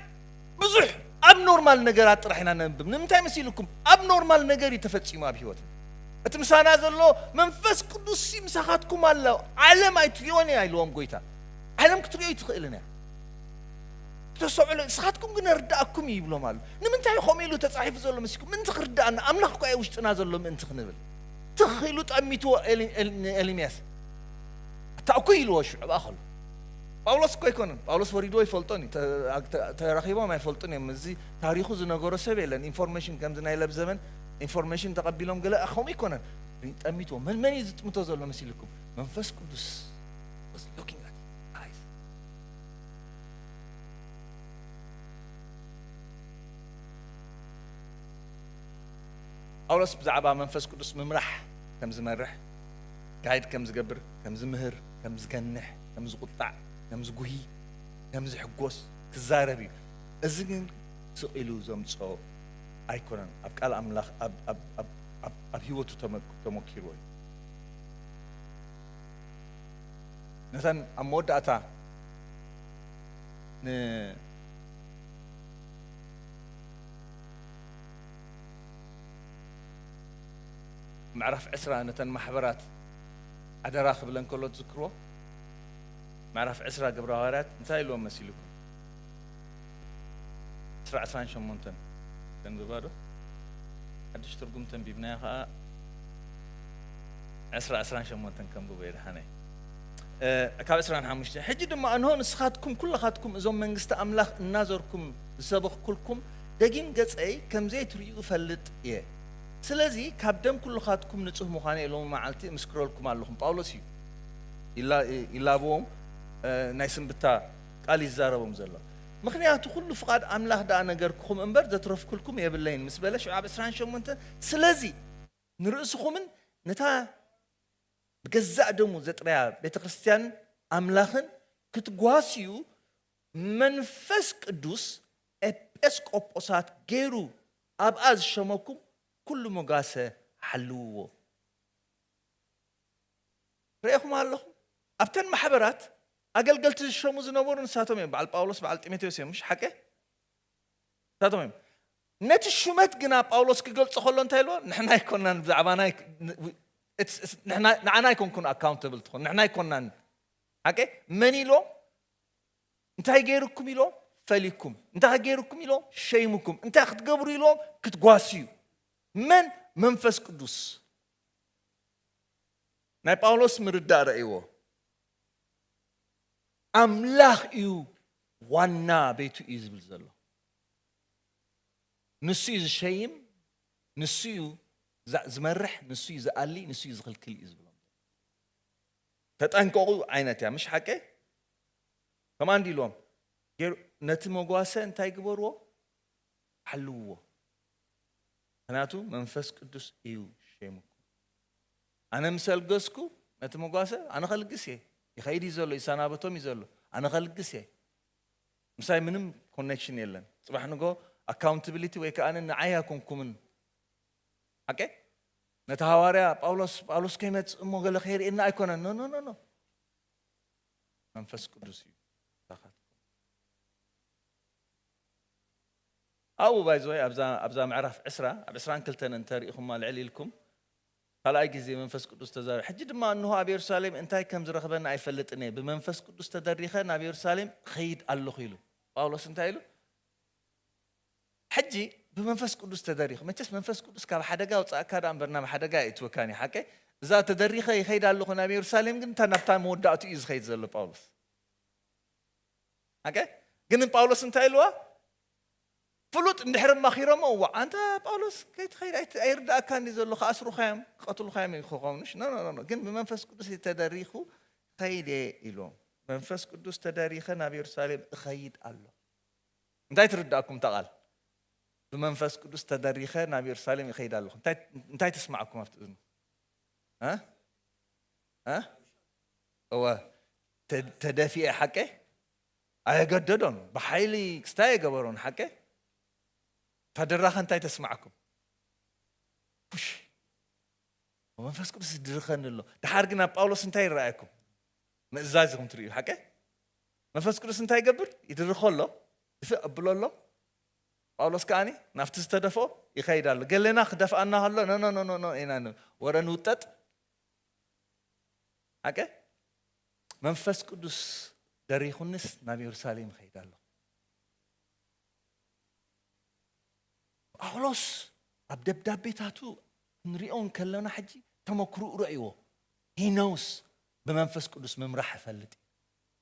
ብዙሕ ኣብ ኖርማል ነገራት ጥራሕ ኢና ነንብብ ንምንታይ መሲልኩም ኣብ ኖርማል ነገር እዩ ተፈጺሙ ኣብ ህይወት እቲ ምሳና ዘሎ መንፈስ ቅዱስ ሲ ምሳኻትኩም ኣሎ ዓለም ኣይትሪኦን እያ ኢልዎም ጎይታ ዓለም ክትሪኦ ይትኽእልን እያ ተሰዕሎ ንስኻትኩም ግን እርዳእኩም እዩ ይብሎም ኣሎ ንምንታይ ከምኡ ኢሉ ተፃሒፉ ዘሎ መሲልኩም ምእንቲ ክርዳእና ኣምላኽ እኳ ውሽጥና ዘሎ ምእንቲ ክንብል ትኽ ኢሉ ጠሚትዎ ኤልምያስ ኣታ እኩይ ኢልዎ ሽዑ ኣኸሉ ጳውሎስ እኮ ኣይኮነን ጳውሎስ ወሪድዎ ይፈልጦን እዩ ተራኺቦም ኣይፈልጡን እዮም እዚ ታሪኹ ዝነገሮ ሰብ የለን ኢንፎርሜሽን ከምዚ ናይ ለብዘበን ኢንፎርሜሽን ተቐቢሎም ገለ ከምኡ ኣይኮነን ጠሚትዎ መን መን እዩ ዝጥምቶ ዘሎ መሲልኩም መንፈስ ቅዱስ ጳውሎስ ብዛዕባ መንፈስ ቅዱስ ምምራሕ ከም ዝመርሕ ጋይድ ከም ዝገብር፣ ከም ዝምህር፣ ከም ዝገንሕ፣ ከም ዝቑጣዕ፣ ከም ዝጉሂ፣ ከም ዝሕጎስ ክዛረብ እዩ። እዚ ግን ስቕ ኢሉ ዘምጽኦ ኣይኮነን፣ ኣብ ቃል ኣምላኽ ኣብ ህይወቱ ተመኪርዎ እዩ። ነተን ኣብ መወዳእታ ን ምዕራፍ ዕስራ ነተን ማሕበራት ኣደራ ክብለን ከሎ ትዝክርዎ? ምዕራፍ ዕስራ ግብረ ሃዋርያት እንታይ ኢልዎም መሲልኩም? ዕስራ ዕስራን ሸሞንተን ተንብባ ዶ? ሓድሽ ትርጉም ተንቢብናዮ ከኣ ዕስራ ዕስራን ሸሞንተን ከንብቦ የድሓነይ ካብ ዕስራን ሓሙሽተ ሕጂ ድማ እንሆ ንስኻትኩም ኩላኻትኩም እዞም መንግስቲ ኣምላኽ እናዘርኩም ዝሰበኽኩልኩም ደጊም ገጸይ ከምዘይትርእዩ እፈልጥ እየ ስለዚ ካብ ደም ኩልኻትኩም ንጹህ ምዃነይ ሎሚ መዓልቲ እምስክረልኩም ኣለኹም ጳውሎስ እዩ ይላበዎም ናይ ስንብታ ቃል ይዛረቦም ዘሎ ምኽንያቱ ኩሉ ፍቓድ ኣምላኽ ደኣ ነገርኩኹም እምበር ዘትረፍኩልኩም የብለይን ምስ በለ ሽዑ ኣብ ዕስራን ሸሞንተን ስለዚ ንርእስኹምን ነታ ብገዛእ ደሙ ዘጥረያ ቤተ ክርስትያንን ኣምላኽን ክትጓስዩ መንፈስ ቅዱስ ኤጲስቆጶሳት ገይሩ ኣብኣ ዝሸመኩም ኩሉ ሞጋሰ ሓልውዎ። ረኤኹም ኣለኹም ኣብተን ማሕበራት ኣገልገልቲ ዝሸሙ ዝነበሩ ንሳቶም እዮም በዓል ጳውሎስ በዓል ጢሞቴዎስ እዮም ምሽ ሓቀ ንሳቶም እዮም ነቲ ሹመት ግና ጳውሎስ ክገልጾ ከሎ እንታይ ኢልዎ ንሕና ኣይኮናን ብዛዕባና ንዓና ኣይኮንኩን ኣካውንተብል ትኾን ንሕና ኣይኮናን ሓቀ መን ኢልዎም እንታይ ገይሩኩም ኢሎም ፈሊኩም እንታይ ገይሩኩም ኢሎም ሸይሙኩም እንታይ ክትገብሩ ኢሎም ክትጓስዩ መን መንፈስ ቅዱስ ናይ ጳውሎስ ምርዳእ ረእይዎ ኣምላኽ እዩ ዋና ቤቱ እዩ ዝብል ዘሎ ንሱ እዩ ዝሸይም ንሱ እዩ ዝመርሕ ንሱ እዩ ዝኣሊ ንሱ እዩ ዝኽልክል እዩ ዝብሎም ተጠንቀቑ ዓይነት እያ ምሽ ሓቀይ ከምኣ እንዲ ኢልዎም ገይሩ ነቲ መጓሰ እንታይ ግበርዎ ሓልውዎ ምክንያቱ መንፈስ ቅዱስ እዩ ሸይምኩም ኣነ ምስ ኣልገስኩ ነቲ መጓሰ ኣነ ከልግስ እየ ይኸይድ እዩ ዘሎ ይሰናበቶም እዩ ዘሎ ኣነ ከልግስ እየ ምሳይ ምንም ኮኔክሽን የለን ፅባሕ ንጎ ኣካውንታብሊቲ ወይ ከዓ ንዓይ ኣይኮንኩምን ሓቂ ነቲ ሃዋርያ ጳውሎስ ጳውሎስ ከይመጽእ እሞ ገለ ከይርእየና ኣይኮነን ኖ ኖ ኖ መንፈስ ቅዱስ እዩ ኣብኡ ባይዘወይ ኣብዛ ምዕራፍ ዕስራ ኣብ ዕስራን ክልተን እንተሪኢኹማ ልዕል ኢልኩም ካልኣይ ግዜ መንፈስ ቅዱስ ተዛሪ ሕጂ ድማ እንሆ ኣብ የሩሳሌም እንታይ ከም ዝረኽበና ኣይፈልጥን እየ ብመንፈስ ቅዱስ ተደሪኸ ናብ የሩሳሌም ኸይድ ኣለኹ ኢሉ ጳውሎስ እንታይ ኢሉ ሕጂ ብመንፈስ ቅዱስ ተደሪኹ መቸስ መንፈስ ቅዱስ ካብ ሓደጋ ኣውጻእካ ደኣ እምበር ናብ ሓደጋ ኣየእትወካን እዩ ሓቀይ እዛ ተደሪኸ ይኸይድ ኣለኹ ናብ የሩሳሌም ግን እንታ ናብታ መወዳእቱ እዩ ዝኸይድ ዘሎ ጳውሎስ ሓቀ ግን ጳውሎስ እንታይ ኢልዋ ፍሉጥ እንድሕር ማኺሮሞ እዋ ኣንታ ጳውሎስ ከይትኸይድ ኣይርዳእካ እንዲ ዘሎ ክኣስሩኻ እዮም ክቐትሉኻ እዮም ክኾኑሽ ኖኖኖ ግን ብመንፈስ ቅዱስ ተደሪኹ ኸይድ እየ ኢሎም መንፈስ ቅዱስ ተደሪኸ ናብ የሩሳሌም እኸይድ ኣሎ እንታይ ትርድኣኩም እታ ቓል? ብመንፈስ ቅዱስ ተደሪኸ ናብ የሩሳሌም ይኸይድ ኣለኹ። እንታይ ትስምዓኩም ኣብቲ እዝኑ? እወ ተደፊኤ ሓቀ ኣየገደዶን ብሓይሊ ክስታይ የገበሮን ሓቀ እታ ድራኸ እንታይ ተስምዓኩም? ፑሽ መንፈስ ቅዱስ ይድርኸኒ ኣሎ። ድሓር ግን ኣብ ጳውሎስ እንታይ ይረኣየኩም? ምእዛዝ ኢኹም ትርእዩ ሓቀ መንፈስ ቅዱስ እንታይ ይገብር? ይድርኾ ኣሎ፣ ድፍእ ኣብሎ ኣሎ፣ ጳውሎስ ከኣ ናብቲ ዝተደፍኦ ይኸይድ ኣሎ። ገለና ክደፍኣና ከሎ ኖኖኖኖኖ ኢና ንብል፣ ወረ ንውጠጥ ሓቀ መንፈስ ቅዱስ ደሪኹንስ ናብ የሩሳሌም ይኸይድ ኣሎ። ጳውሎስ ኣብ ደብዳቤታቱ ክንሪኦ እንከለና ሕጂ ተመክርኡ ረእይዎ ሂኖውስ ብመንፈስ ቅዱስ ምምራሕ እፈልጥ እዩ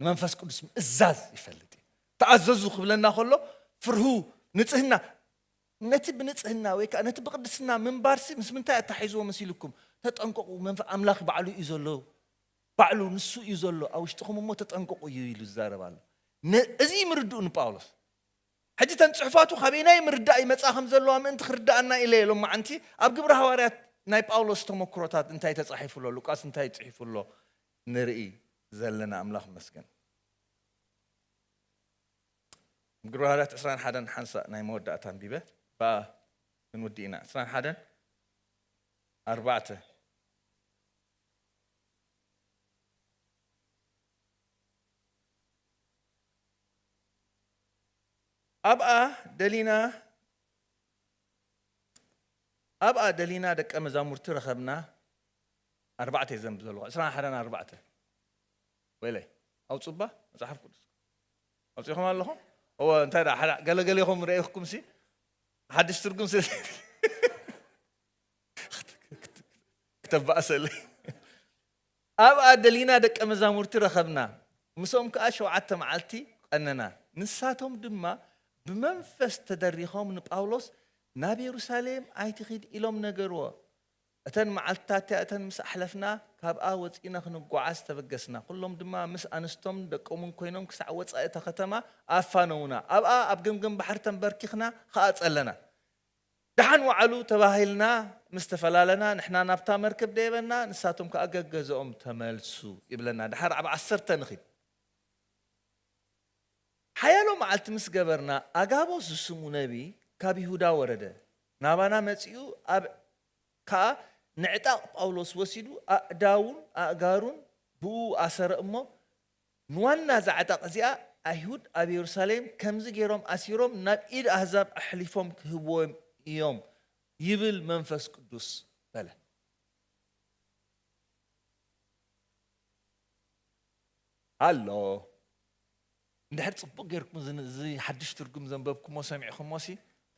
ንመንፈስ ቅዱስ ምእዛዝ ይፈልጥ እዩ። ተኣዘዙ ክብለና ከሎ ፍርሁ ንጽህና ነቲ ብንጽህና ወይ ከዓ ነቲ ብቅድስና ምንባርሲ ምስ ምንታይ ኣታሒዝዎ መሲልኩም ተጠንቀቑ መንፈ ኣምላኽ ባዕሉ እዩ ዘሎ ባዕሉ ንሱ እዩ ዘሎ ኣብ ውሽጥኹም እሞ ተጠንቀቑ እዩ ኢሉ ዝዛረብ ኣሎ እዚ ምርድኡ ንጳውሎስ ሕጂ ተን ጽሑፋቱ ካበየናይ ምርዳእ ይመጽኣ ከም ዘለዋ ምእንቲ ክርዳኣና ኢለ ሎ ሎማዓንቲ ኣብ ግብሪ ሃዋርያት ናይ ጳውሎስ ተመክሮታት እንታይ ተጻሒፉ ኣሎ ሉቃስ እንታይ ጽሒፉ ኣሎ ንርኢ ዘለና ኣምላኽ መስገን። ግብሪ ሃዋርያት ዕስራን ሓደን ሓንሳእ ናይ መወዳእታ ኣንቢበ ብኣ ክንውዲ ኢና ዕስራን ሓደን ኣርባዕተ ኣብኣ ደሊና ኣብኣ ደሊና ደቀ መዛሙርቲ ረኸብና ኣርባዕተ እየ ዘንብ ዘለኹ ዕስራን ሓደን ኣርባዕተ ወይለይ ኣውፁባ መፅሓፍ ቅዱስ ኣውፂኹም ኣለኹም እወ እንታይ ደኣ ሓደ ገለገሌኹም ረኢኹኩም ሲ ሓድሽ ትርጉም ስ ክተባእሰለይ ኣብኣ ደሊና ደቀ መዛሙርቲ ረኸብና ምስኦም ከዓ ሸውዓተ መዓልቲ ቀነና ንሳቶም ድማ ብመንፈስ ተደሪኾም ንጳውሎስ ናብ የሩሳሌም ኣይትኺድ ኢሎም ነገርዎ እተን መዓልትታት'ያ እተን ምስ ኣሕለፍና ካብኣ ወጺእና ክንጎዓዝ ተበገስና። ኩሎም ድማ ምስ ኣንስቶምን ደቆምን ኮይኖም ክሳዕ ወጻኢ እታ ከተማ ኣፋነዉና። ኣብኣ ኣብ ገምገም ባሕሪ ተንበርኪኽና ኸኣ ጸለና። ደሓን ወዓሉ ተባሂልና ምስ ተፈላለና ንሕና ናብታ መርከብ ደየበና ንሳቶም ከኣ ገገዘኦም ተመልሱ ይብለና። ደሓር ኣብ ዓሰርተ ንኺድ። ሓያሎ መዓልቲ ምስ ገበርና ኣጋቦስ ዝስሙ ነብዪ ካብ ይሁዳ ወረደ። ናባና መጺኡ ኣብ ከኣ ንዕጣቕ ጳውሎስ ወሲዱ ኣእዳዉን ኣእጋሩን ብእኡ ኣሰረ እሞ ንዋና እዛ ዕጣቕ እዚኣ ኣይሁድ ኣብ የሩሳሌም ከምዚ ገይሮም ኣሲሮም ናብ ኢድ ኣህዛብ ኣሕሊፎም ክህብዎም እዮም ይብል መንፈስ ቅዱስ በለ። ኣሎ። እንድሕር ጽቡቕ ጌርኩም እዚ እዚ ሓድሽ ትርጉም ዘንበብኩሞ ሰሚዕኩሞሲ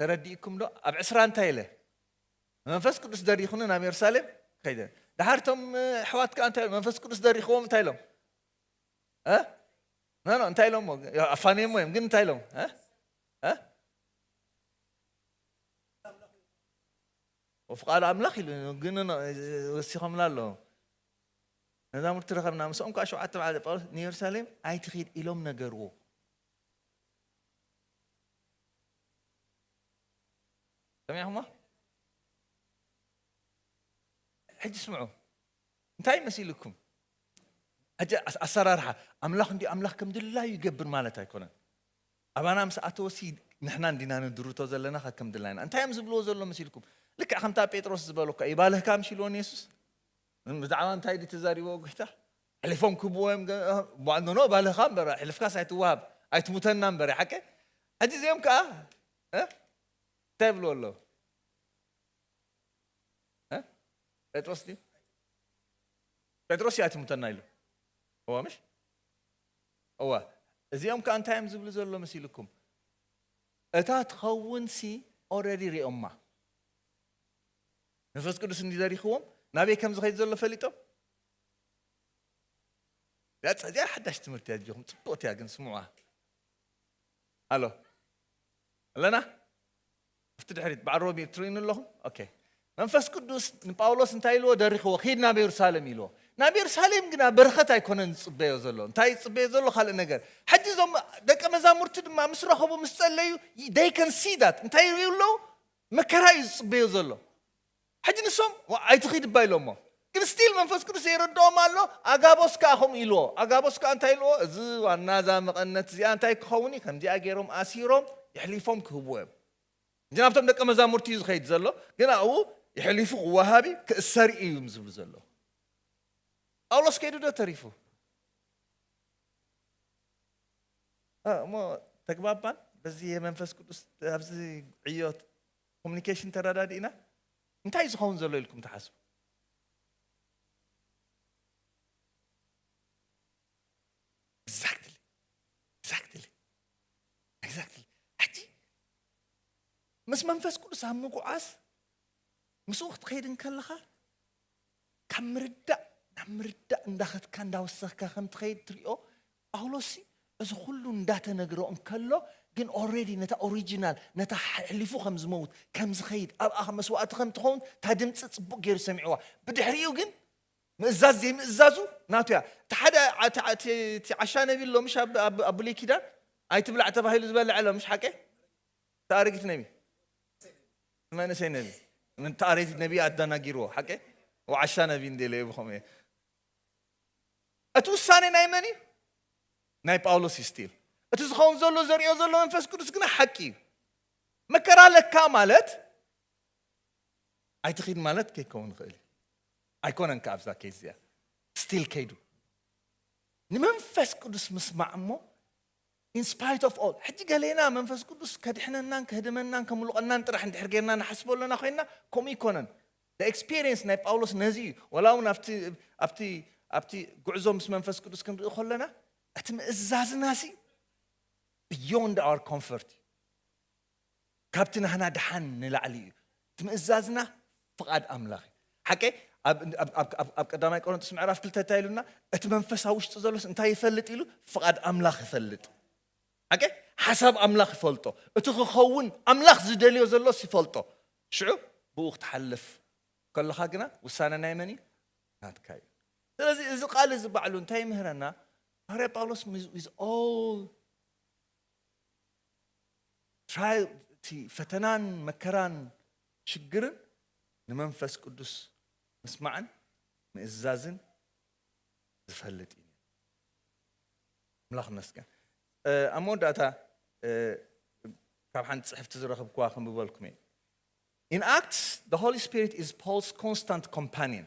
ተረዲእኩምዶ ኣብ ዕስራ እንታይ ኢለ መንፈስ ቅዱስ ደሪኹኒ ናብ የሩሳሌም ከይደ ድሓር እቶም ኣሕዋት ከኣ እንታይ መንፈስ ቅዱስ ደሪኽዎም እንታይ ኢሎም ኖ ኖ እንታይ ኢሎሞ ኣፋንየሞ እዮም ግን እንታይ ኢሎም ወፍቃሉ ኣምላኽ ኢሉ ግን ወሲኾምላ ኣለዎ መዛሙርቲ ረኸብና፣ ምስኦም ከኣ ሸውዓተ መዓልቲ ጳውሎስ ንየሩሳሌም ኣይትኺድ ኢሎም ነገርዎ። ሰሚዕኹሞ? ሕጂ ስምዑ፣ እንታይ መሲልኩም? ሕጂ ኣሰራርሓ ኣምላኽ እንዲ ኣምላኽ ከም ድላዩ ይገብር ማለት ኣይኮነን። ኣባና ምስ ኣተወሲ ንሕና እንዲና ንድርቶ ዘለና ከም ድላይና። እንታይ እዮም ዝብልዎ ዘሎ መሲልኩም? ልክዕ ከምታ ጴጥሮስ ዝበሎ እኳ ይባልህካ ምሽ ኢልዎን የሱስ ብዛዕባ እንታይ ድዩ ተዛሪብዎ ጎይታ ኣሕሊፎም ክህብዎ እዮም ኖኖ ባልኻ እምበር ኣሕልፍካስ ኣይትወሃብ ኣይትሙተና እምበር ሓቂ ሕጂ እዚኦም ከዓ እንታይ ይብልዎ ኣለዉ ጴጥሮስ ድዩ ጴጥሮስ እዩ ኣይትሙተና ኢሉ እዋ ምሽ እዋ እዚኦም ከዓ እንታይ እዮም ዝብሉ ዘሎ መሲልኩም እታ ትኸውንሲ ኦረዲ ሪኦማ መንፈስ ቅዱስ እንዲ ዘሪኽዎም ናበይ ከም ዝኸይድ ዘሎ ፈሊጦም እዚኣ ሓዳሽ ትምህርቲ እያ ዚኹም ፅቡቕቲ እያ ግን ስምዑዋ ኣሎ ኣለና ኣብቲ ድሕሪት በዓል ሮቢ ትርእዩኒ ኣለኹም ኦኬ መንፈስ ቅዱስ ንጳውሎስ እንታይ ኢልዎ ደሪኽዎ ኺድ ናብ የሩሳሌም ኢልዎ ናብ የሩሳሌም ግና በረኸት ኣይኮነን ዝፅበዮ ዘሎ እንታይ ዝፅበዮ ዘሎ ካልእ ነገር ሕጂ እዞም ደቂ መዛሙርቲ ድማ ምስ ረኸቡ ምስ ጸለዩ ደይ ከን ሲ ዳት እንታይ ይርእዩ ኣለዉ መከራ እዩ ዝጽበዮ ዘሎ ሕጂ ንሶም ኣይትኺድ እባ ኢሎሞ ግን ስቲል መንፈስ ቅዱስ ዘይረድኦም ኣሎ ኣጋቦስ ከኣ ከምኡ ኢልዎ ኣጋቦስ ከኣ እንታይ ኢልዎ እዚ ዋና እዛ መቐነት እዚኣ እንታይ ክኸውን እዩ ከምዚኣ ገይሮም ኣሲሮም ይሕሊፎም ክህብዎ እዮም እንጂ ናብቶም ደቀ መዛሙርቲ እዩ ዝኸይድ ዘሎ ግን ኣብኡ ይሕሊፉ ክወሃብ እዩ ክእሰር እዩ እዮም ዝብሉ ዘለዉ ጳውሎስ ከይዱ ዶ ተሪፉ እሞ ተግባባን በዚ የመንፈስ ቅዱስ ኣብዚ ዕዮ ኮሚኒኬሽን ተረዳዲእና እንታይ ዝኸውን ዘሎ ኢልኩም ትሓስቡ ኤግዛክትሊ ኤግዛክትሊ ኤግዛክትሊ ሕጂ ምስ መንፈስ ቅዱስ ኣብ ምጉዓዝ ምስኡ ክትኸይድ እንከለኻ ካብ ምርዳእ ናብ ምርዳእ እንዳኸድካ እንዳወሰኽካ ከም ትኸይድ ትሪኦ ጳውሎስሲ እዚ ኹሉ እንዳተነግሮ እንከሎ ግን ኦሬዲ ነታ ኦሪጂናል ነታ ኣሕሊፉ ከም ዝመውት ከም ዝኸይድ ኣብኣ መስዋእቲ ከም ትኸውን እታ ድምፂ ፅቡቕ ገይሩ ሰሚዕዋ ብድሕሪኡ ግን ምእዛዝ ዘይምእዛዙ ናቱ እያ እቲ ሓደ እቲ ዓሻ ነቢ ኣሎ ምሽ ኣብ ብሉይ ኪዳን ኣይትብላዕ ተባሂሉ ዝበልዐ ኣሎ ምሽ ሓቀ ታሪክ ነቢ መንእሰይ ነቢ ምን ታሪክ ነቢ ኣዳናጊርዎ ሓቂ ወዓሻ ነቢ እንደለ ብከም እየ እቲ ውሳኔ ናይ መን እዩ ናይ ጳውሎስ እዩ ስቲል እቲ ዝኸውን ዘሎ ዘሪኦ ዘሎ መንፈስ ቅዱስ ግና ሓቂ እዩ መከራ ለካ ማለት ኣይትኺድ ማለት ከይከውን ይኽእል እዩ ኣይኮነን ከዓ ኣብዛ ኬዝ እዚኣ ስቲል ከይዱ ንመንፈስ ቅዱስ ምስማዕ እሞ In spite of all ሕጂ ገሌና መንፈስ ቅዱስ ከድሕነናን ከህድመናን ከምልቖናን ጥራሕ እንድሕር ጌርና ንሓስቦ ኣሎና ኮይንና ከምኡ ኣይኮነን the experience ናይ ጳውሎስ ነዚ እዩ ወላ እውን ኣብቲ ኣብቲ ኣብቲ ጉዕዞ ምስ መንፈስ ቅዱስ ክንርኢ ከሎና እቲ ምእዛዝናሲ beyond our comfort እዩ ካብቲ ናህና ደሓን ንላዕሊ እዩ ትምእዛዝና ፍቃድ ኣምላኽ እዩ ሓቀይ ኣብ ቀዳማይ ቆሮንቶስ ምዕራፍ ክልተ እንታይ ኢሉና እቲ መንፈስ ኣብ ውሽጢ ዘሎስ እንታይ ይፈልጥ ኢሉ ፍቃድ ኣምላኽ ይፈልጥ ሓቀይ ሓሳብ ኣምላኽ ይፈልጦ እቲ ክኸውን ኣምላኽ ዝደልዮ ዘሎስ ይፈልጦ ሽዑ ብኡ ክትሓልፍ ከለኻ ግና ውሳነ ናይ መን እዩ ናትካ እዩ ስለዚ እዚ ቃል እዚ ባዕሉ እንታይ ይምህረና ሃዋርያ ጳውሎስ ዊዝ ኦል ትራይል እቲ ፈተናን መከራን ሽግርን ንመንፈስ ቅዱስ ምስማዕን ምእዛዝን ዝፈልጥ እዩ ነይሩ። ኣምላኽ ይመስገን። ኣብ መወዳእታ ካብ ሓንቲ ጽሕፍቲ ዝረኽብክዋ ክንብበልኩም እየ። In Acts, the Holy Spirit is Paul's constant companion.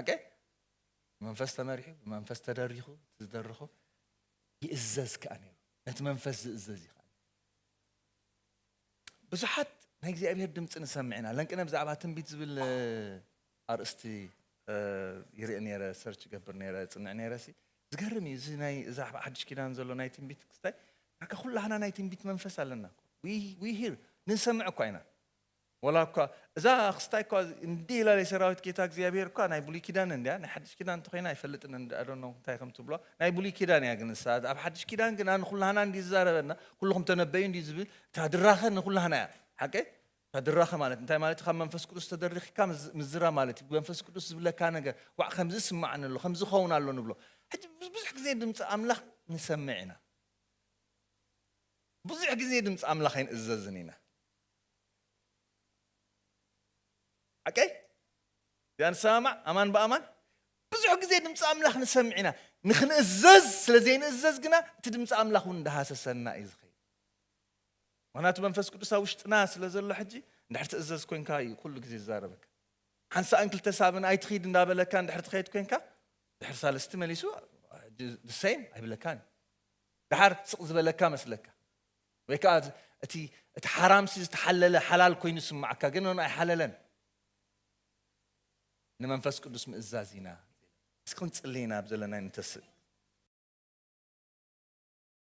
ኣገ ብመንፈስ ተመሪሑ ብመንፈስ ተደሪኹ እቲ ዝደረኾ ይእዘዝ ከዓ ነይሩ ነቲ መንፈስ ዝእዘዝ እዩ ከዓ ብዙሓት ናይ እግዚኣብሔር ድምፂ ንሰምዕ ኢና ለንቅነ ብዛዕባ ትንቢት ዝብል ኣርእስቲ ይርኢ ነይረ ሰርች ገብር ነይረ ፅንዕ ነይረ ሲ ዝገርም እዩ እዚ ናይ እዛ ሓድሽ ኪዳን ዘሎ ናይ ትንቢት ክስታይ ዳርጋ ኩላህና ናይ ትንቢት መንፈስ ኣለና ዊ ሂር ንሰምዕ እኳ ኢና ወላ እኳ እዛ ኣክስታይ እኳ እንዲህ ኢላ የሰራዊት ጌታ እግዚኣብሄር እኳ ናይ ብሉይ ኪዳን እንድያ ናይ ሓድሽ ኪዳን እንተኾይና ኣይፈልጥን እንድ ኣዶኖ እንታይ ከም ትብሏ ናይ ብሉይ ኪዳን እያ ግን ንሳ ኣብ ሓድሽ ኪዳን ግና ንኹላህና እንዲ ዝዛረበና ኩልኹም ተነበዩ እንዲ ዝብል እታ ድራኸ ንኹላህና እያ ሓቀይ እታ ድራኸ ማለት እንታይ ማለት ካብ መንፈስ ቅዱስ ተደሪኽካ ምዝራ ማለት እዩ መንፈስ ቅዱስ ዝብለካ ነገር ዋዕ ከምዚ ይስማዓኒ ኣሎ ከምዚ ኸውን ኣሎ ንብሎ ሕጂ ብዙሕ ግዜ ድምፂ ኣምላኽ ንሰምዕ ኢና ብዙሕ ግዜ ድምፂ ኣምላኽ ኣይንእዘዝን ኢና ሓቀይ እዚኣ ንሰማማዕ ኣማን ብኣማን ብዙሕ ግዜ ድምፂ ኣምላኽ ንሰምዕ ኢና ንክንእዘዝ ስለ ዘይንእዘዝ ግና እቲ ድምፂ ኣምላኽ እውን እንዳሃሰሰና እዩ ዝኸ ምክንያቱ መንፈስ ቅዱስ ኣብ ውሽጥና ስለ ዘሎ ሕጂ እንድሕር ትእዘዝ ኮንካ እዩ ኩሉ ግዜ ዝዛረበካ ሓንሳእን ክልተ ሳብን ኣይትኽይድ እንዳበለካ እንድሕር ትኸይድ ኮንካ ድሕር ሳለስቲ መሊሱ ድሰይም ኣይብለካን እዩ ድሓር ስቕ ዝበለካ መስለካ ወይ ከኣ እቲ እቲ ሓራምሲ ዝተሓለለ ሓላል ኮይኑ ይስምዓካ ግን ን ኣይሓለለን ንመንፈስ ቅዱስ ምእዛዝ ኢና እስኪ ክንጽሊ ኢና ብዘለና ንተስእ